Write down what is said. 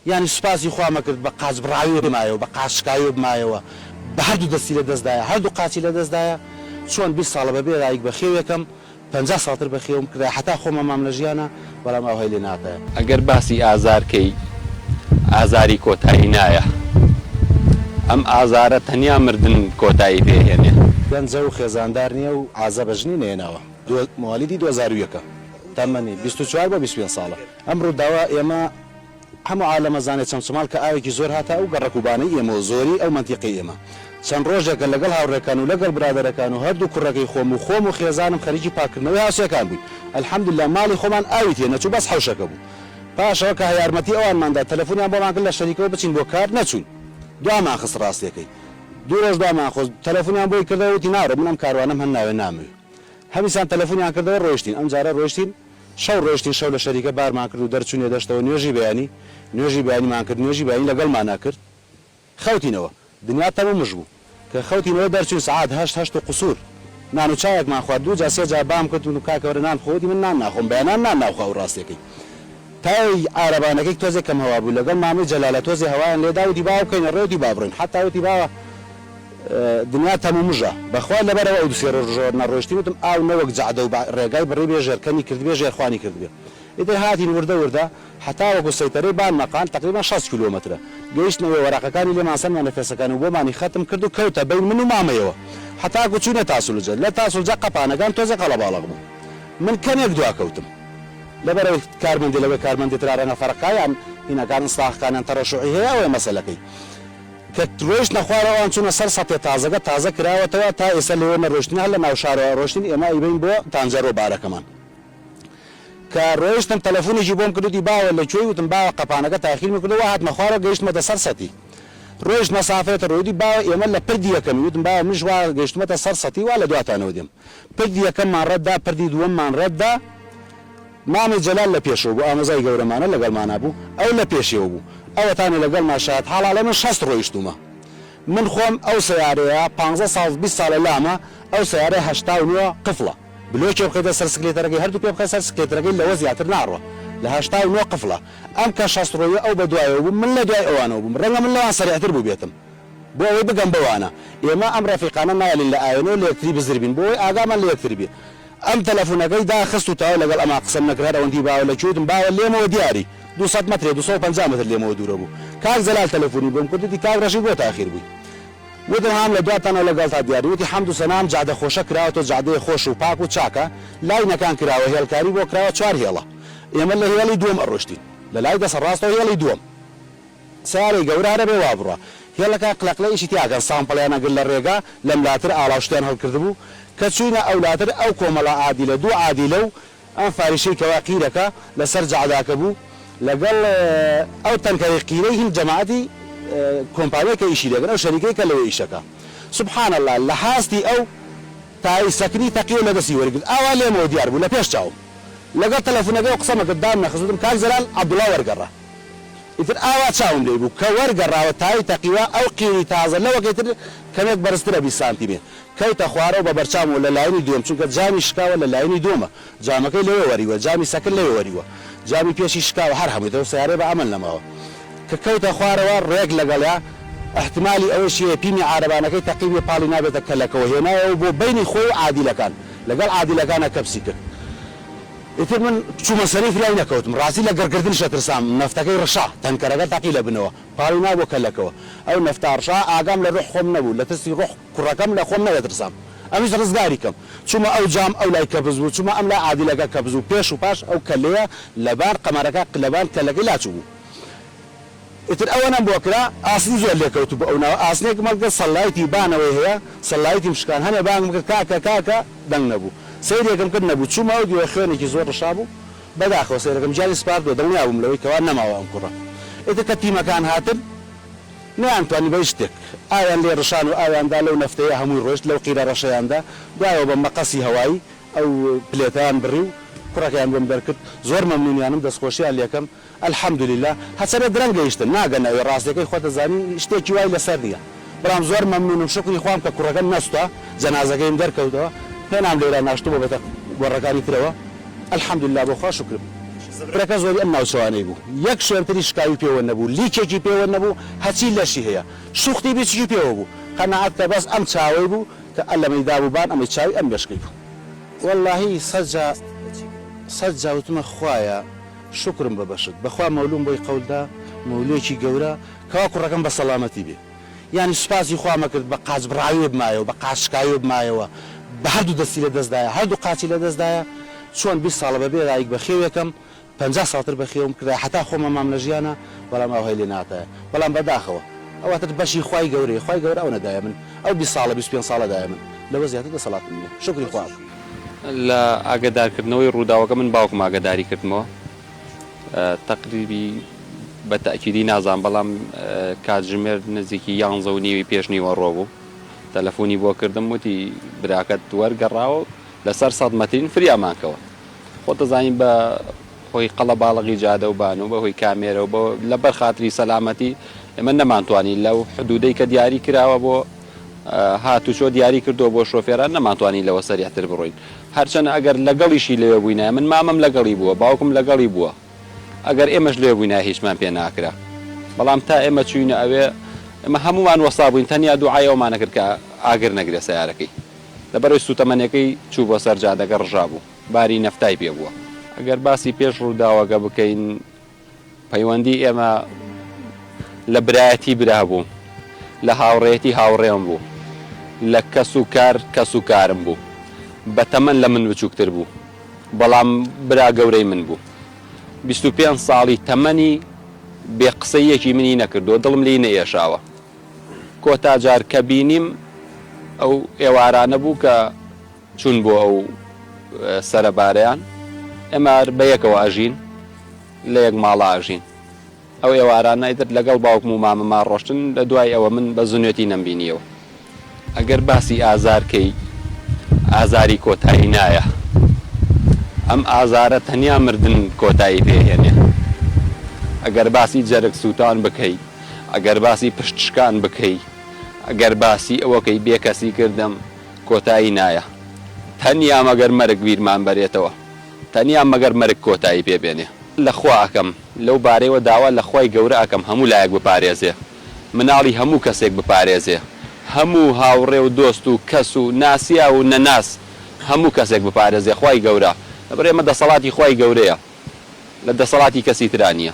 یانی سوپاسی خوا مەکرد بە قاچ بڕاوی بمایەوە بە قاچ شکاوی بمایەوە بە هەردوو دەستی لە دەست دایە هەردوو قاچی لە دەست دایە چۆن بیست ساڵە بەبێ رایک بە خێوێکەم پەنجا ساڵتر بە خێوم کرایە حەتا خۆم ئەمام لە ژیانا بەڵام ئاوهای لێ ناکایە. ئەگەر باسی ئازار کەی ئازاری کۆتایی نایە ئەم ئازارە تەنیا مردن کۆتایی پێ هێنێ. گەنجە و خێزاندار نیە و عازە بە ژنی نەهێناوە موەلیدی دووهەزار و یەکە تەمەنی بیست و چوار بۆ بیست و پێنج ساڵە. ئەم ڕوداوە ئێمە هەمو عالەم ئەزانێ چەمچەماڵ کە ئاوێکی زۆر هاتە ئەو گەڕەک و بانەی ئێمەوە زۆری ئەو مەنتیقەی ئێمە چەند ڕۆژێکە لەگەڵ هاوڕێکان و لەگەڵ برادەرەکان و هەردو کوڕەکەی خۆم و خۆم و خێزانم خەریکی پاککردنەوەی هاوسێکان بوین الحمدللە ماڵی خۆمان ئاوی تێ نەچو بەس حەوشەکە بو پاشەوە کە یارمەتی ئەوانمان دا تەلەفونیان بۆمان کرد لە شەریکەوە بچین بۆ کار نەچوین دوامان خست ڕاستیەکەی دو ڕۆژ دوامان خست تەلەفونیان بۆی کردەوە وتی ناڕۆم من ئەم کاروانەم هەناوێ نامەوێ هەمیسان تەلەفونیان کردەوە ڕۆیشتین ئەمجارە ڕۆیشتین شەو ڕۆیشتین شەو لە شەریکە بارمان کرد و دەرچوینە دەشتەوە نوێژی بەیانی نوێژی بەیانیمان کرد نوێژی بەیانی لەگەڵمانا کرد خەوتینەوە دنیا تەم و مژ بوو کە خەوتینەوە دەرچوین سەعات هەشت هەشت و قوسور نان و چایەکمان خوارد دوو جا سێ جا بام کرد وتم کاکە وەرە نان بخۆ وتی من نان ناخۆم بەیانان نان ناخوا ئەو ڕاستەکەی تایەی عارەبانەکەی تۆزێ کەم هەوا بوو لەگەڵ مامەی جەلالە تۆزێ هەوایان لێدا وتی با ئەو بکەینە ڕێ وتی با بڕۆین حەتا وتی با دنیا تەم و مژە بەخوای لەبەرئەوە ئەو دو سێ رۆژ ژۆر نەڕۆیشتین وتم ئاو نەوەک جەعدە و بەع رێگای بڕیبێ ژێر کەمی کردبێ ژێر خوانی کردبێ ئیتر هاتین وردە وردە هەتاوەکو سەیتەرەی بان مەقان تەقریبەن شەست کیلۆمەترە گەیشتن ئەوێ وەرەقەکانی لێمان سەند مەنەفێسەکان و بۆمانی خەتم کرد و کەوتە بەین من و مامەیەوە هەتاکو چوینە تاسلجە لە تاسلجە قەپانەکان تۆزێ قەڵەباڵەق بوو من کەمێک دوا کەوتم لەبەرئەوەی کارمەندی لەوێ کارمەندی ترا رەنگە فەرقکایان هینەکان ئسڵاحکانیان تەڕەشوعی هەیە ئەوەیە مەسەلەکەی. کە رۆیشتنە خوارەوە ئەوان چوونە سەر سەتێ تازەکە تازە کراوەتەوە تا ئێستا لێوە نەرۆیشتن هەر لە ناو شارەوە رۆیشتن ئێمە ئەیبەین بۆ تانجەرۆ بارەکەمان کە رۆیشتن تەلەفونێکی بۆم کرد وتی باوە لە کوێی وتم باوە قەپانەکە تاخیرمی کردووە هاتمە خوارەوە گەیشتمەتە سەر سەتی رۆیشت مەسافەیەتە رۆیدی باوە ئێمە لە پردی یەکەمی وتم باوە منیش وا گەیشتمەتە سەر سەتی وا لە دواتانەوە دێم پردی یەکەممان رەت دا پردی دووەممان رەت دا مامە جەلال لە پێشەوە بوو ئامۆزای گەورەمانە لەگەڵمانا بوو ئەو لە پێشێوە بوو ئەوەتانە لەگەڵما شایەت حاڵە ئەڵێ من شەست ڕۆیشتوومە من خۆم ئەو سەیارەیە پانزە ساڵ بیست ساڵە لامە ئەو سەیارە هەشتا و نۆ قفڵە بلۆکێ بخەیتە سەر سکلێتەرەکەی هەردوو پێ بخە سەر سکلێترەکەی لەوە زیاتر ناڕوا لە هەشتا و نۆ قفڵە ئەم کە شەست ڕۆیوە ئەو بە دوایەوە بوو من لە دوای ئەوانەوە بووم ڕەنگە من لەوان سەریعتر بووبێتم بۆ ئەوەی بگەم بەوانە ئێمە ئەم ڕەفیقانە نایەلین لە ئاوێنەوە لە یەکتری بزر بین بۆ ئەوەی ئاگامان لە یەکتر بێ ئەم تەلەفونەکەی داخست و تەواو لەگەڵ ئەما قسەم نەکرد هەر ئەوەندی باوە لە کوێتم باوە لێمەوە دیاری دوو سەد مەترێ دوو سەد و پەنجا مەتر لێمەوە دوورە بوو کاک جەلال تەلەفونی بۆم کرد وتی کاک ڕەشید بۆ تاخیر بووی وتم هام لە دواتانەوە لەگەڵتا دیاری وتی حەمد و سەنا ئەم جادە خۆشە کراوەتەوە جادەیە خۆش و پاک و چاکە لای نەکان کراوە هێڵکاری بۆ کراوە چوار هێڵە ئێمە لە هێڵی دووەم ئەڕۆشتین لە لای دەسە ڕاستەوە هێڵی دووەم سیارەی گەورە هەنەبێ وا بڕا هێڵەکە قلەقلەیەکی تیا کەن سامپڵیان ئەگرت لە ڕێگا لەم لاتر ئاڵاو شتیان هەڵکردبوو کە چووینە ئەو لاتر ئەو کۆمەڵە عادیلە دوو عادیلەو ئەم فاریشەی کەوا قیرەکە لە سەر جەعداکە بوو لەگەڵ ئەو تەنکەرەی قیرەی هین جەماعەتی کۆمپانیای کە ئیشی لێکەن ئەو شەریکەی کە لەوێ ئیشەکە سبحان اللە لە حاستی ئەو تای سەکنی تەقیەو لە دەستی وەرگرت ئاوا لێمەوە دیار بوو لە پێش چاوم لەگەڵ تەلەفونەکەی و قسەمەکرد دامنەخست وتم کاک جەلال عەبدوڵا وەرگەڕا ئیتر ئاوا چاوم لێی بوو، کە وەرگەڕاوە تاوی تەقیوە، ئەو قیری تازە لەوەکەی تر کەمێک بەرزترە بیست سانتیمێ. کەوتە خوارەوە بە بەرچاومەوە لە لایەنی دووەم، چونکە جامی شکاوە لە لایەنی دووەمە، جامەکەی لەوێ وەریوە، جامی سەکن لەوێ وەریوە، جامی پێشی شکاوە، هەر هەمووی دەو سەیارەیە بە ئەمەل نەماوە. کە کەوتە خوارەوە ڕێک لەگەڵیا، ئیحتیمالی ئەوەشی هەیە پیمی عارەبانەکەی تەقیبێ پاڵی نابێتە کەلەکەوە، هێنایەوە بۆ بەینی خۆی و عادیلەکان، لەگەڵ عادیلەکانا کەپسی کرد. ئیتر من چوومە سەری فرای نەکەوتم ڕاستی لە گڕگردنشە ترسام نەفتەکەی ڕشا تەنکەرەکە تەقی لە بنەوە پاوی نا بۆ کەلەکەوە ئەو نەفتا ڕشا ئاگام لە ڕوح خۆم نەبوو لە ترسی ڕوح کوڕەکەم لە خۆم نەدەترسام ئەویش ڕزگاری کەم چوومە ئەو جام ئەو لای کەبز بوو چوومە ئەم لای عادلەکە کەبز بوو پێش و پاش ئەو کەلێیە لەبان قەمەرەکە لەبان کەلەکەی لاچووبوو ئیتر ئەوەنەم بۆ کرا ئاسن زۆر لێکەوتوو بوو ئەو ناوە ئاسنێکم هەڵگرت سەللایتی بانەوەی هەیە سەللایتیم شکان هەنێ بانگم کرد کاکە کاکە دەنگ نەبوو سەیرێکم کرد نەبوو چوومە ئەو دیوە خوێنێکی زۆر ڕشابوو بەداخەوە سەیرەکەم گیانی سپاردووە دڵنیا بووم لەوەی کەوا نەماوە ئەم کوڕە ئیتر کە تیمەکان هاتن نەیان توانی بە هیچ شتێک ئاویان لێ ڕشان و ئاویان دا لەو نەفتەیە هەمووی ڕۆیشت لەو قیرە ڕەشەیان دا دوایەوە بە مەقەسی هەوایی ئەو پلێتەیان بڕی و کوڕەکەیان بۆم دەرکرد زۆر مەمنوونیانم دەستخۆشییان لێکەم الحمدللە هەچەنە درەنگ گەیشتن ناگەنە ئەوێ ڕاستیەکەی خۆت ئەزانی شتێکی وای لەسەر نیە برام زۆر مەمنونم شوکری خوام کە کوڕەکەم نەسوتا جەنازەکەیم دەرکەوتەوە پێنام لێرا ناشتبوو بەتە گۆڕەکانی ترەوە الحمدللە بۆ خوا شوکرم زبرەکە زۆری ئەم ناوچەوانەی بوو یەک شوێنتری شکاوی پێوە نەبوو لیکێکی پێوە نەبوو هەچی لەشی هەیە شوختی بیچکی پێوە بوو قەناعەت کە بەس ئەم چاوەی بوو کە اللەمەی دابوو بان ئەمەی چاوی ئەم مێشکەی بوو وەللەهی سەت جا سەت جا وتمە خوایە شوکرم بە بەشت بەخوا مەولوم بۆی قەول دا مەولوێکی گەورە کوا کوڕەکەم بە سەڵامەتی بێ یانی سوپاسی خوام ئەکرد بە قاچ بڕاوێ بمایەوە بە قاچ شکاوێ بمایەوە بە هەردوو دەستی لە دەستدایە هەردوو قاچی لە دەستدایە چۆن بیست ساڵە بەبێ دایک بە خێوێکەم پەنجا ساڵتر بە خێوم کرایە حەتا خۆم ئەمام لە ژیانا بەڵام ئاوهای لێ ناتایە بەڵام بە داخەوە ئەوەتر بەشی خوای گەورەیە خوای گەورە ئەو نەدایە من ئەو بیست ساڵە بیست پێنج ساڵە دایە من لەوە زیاتر دەسەڵاتم نیە شوکری خوا ئەکەم. لە ئاگەدارکردنەوەی ڕووداوەکە من باوکم ئاگەداری کردمەوە تەقریبی بە تاکیدی نازان بەڵام کاتژمێر نزیکی یانزە و نیوی پێش نیوەڕۆ بوو تەلەفۆنی بۆ کردم وتی براکەت وەرگەڕاوە لەسەر سەد مەترین فریامان کەوت خۆ دەزانین بە هۆی قەڵەباڵغی جادە و بانو بە هۆی کامێرە و لە بەر خاتری سەلامەتی ئێمە نەمانتوانی لەو حدودەی کە دیاری کراوە بۆ هاتوچۆ دیاری کردوە بۆ شۆفێران نەمانتوانی لەوە سەریع تر بڕۆین هەر چەنە ئەگەر لە گەڵیشی لەوێ بووینایە من مامم لە گەڵی بووە باوکم لە گەڵی بووە ئەگەر ئێمەش لەوێ بووینایە هیچمان پێ ناکرا بەڵام تا ئێمە چووینە ئەوێ ئێمە هەموومان وەستا بووین تەنیا دوعای ئەومانە کرد کە ئاگر نەگرێ سەیارەکەی لەبەرەوەی سووتەمەنیەکەی چوو بۆ سەر جادەکە ڕژا بوو. باری نەفتای پێ بووە. ئەگەر باسی پێش ڕووداوەکە بکەین، پەیوەندی ئێمە لە برایەتی برا بوو، لە هاوڕێیەتی هاوڕێم بوو، لە کەس و کار کەس و کارم بوو. بە تەمەن لە من بچووکتر بوو، بەڵام برا گەورەی من بوو. بیست و پێنج ساڵی تەمەنی بێ قسەی یەکی منی نەکردووە، دڵم لێی نەئێشاوە. کۆتا جار کە بینیم ئەو ئێوارانە بوو کە. چوون بۆ ئەو سەرەبارەیان ئێمە هەر بە یەکەوە ئەژین لە یەک ماڵا ئەژین ئەو ئێوارانە ئیتر لەگەڵ باوکم و مامم ئاڕۆشتن لە دوای ئەوە من بە زنوێتی نەمبینیەوە. ئەگەر باسی ئازار کەی ئازاری کۆتایی نایە ئەم ئازارە تەنیا مردن کۆتایی پێ هێنێ ئەگەر باسی جەرگ سووتان بکەی ئەگەر باسی پشت شکان بکەی ئەگەر باسی ئەوەکەی بێکەسی کردم کۆتایی نایە تەنیا مەگەر مەرگ بیرمان بەرێتەوە تەنیا مەگەر مەرگ کۆتایی پێ بێنێ. لە خوا ئەکەم لەو بارەیەوە داوا لە خوای گەورە ئەکەم هەموو لایەک بپارێزێ مناڵی هەموو کەسێک بپارێزێ هەموو هاوڕێ و دۆست و کەس و ناسیاو و نەناس هەموو کەسێک بپارێزێ خوای گەورە لەبەر ئێمە دەسەڵاتی خوای گەورەیە لە دەسەڵاتی کەسی ترا نیە.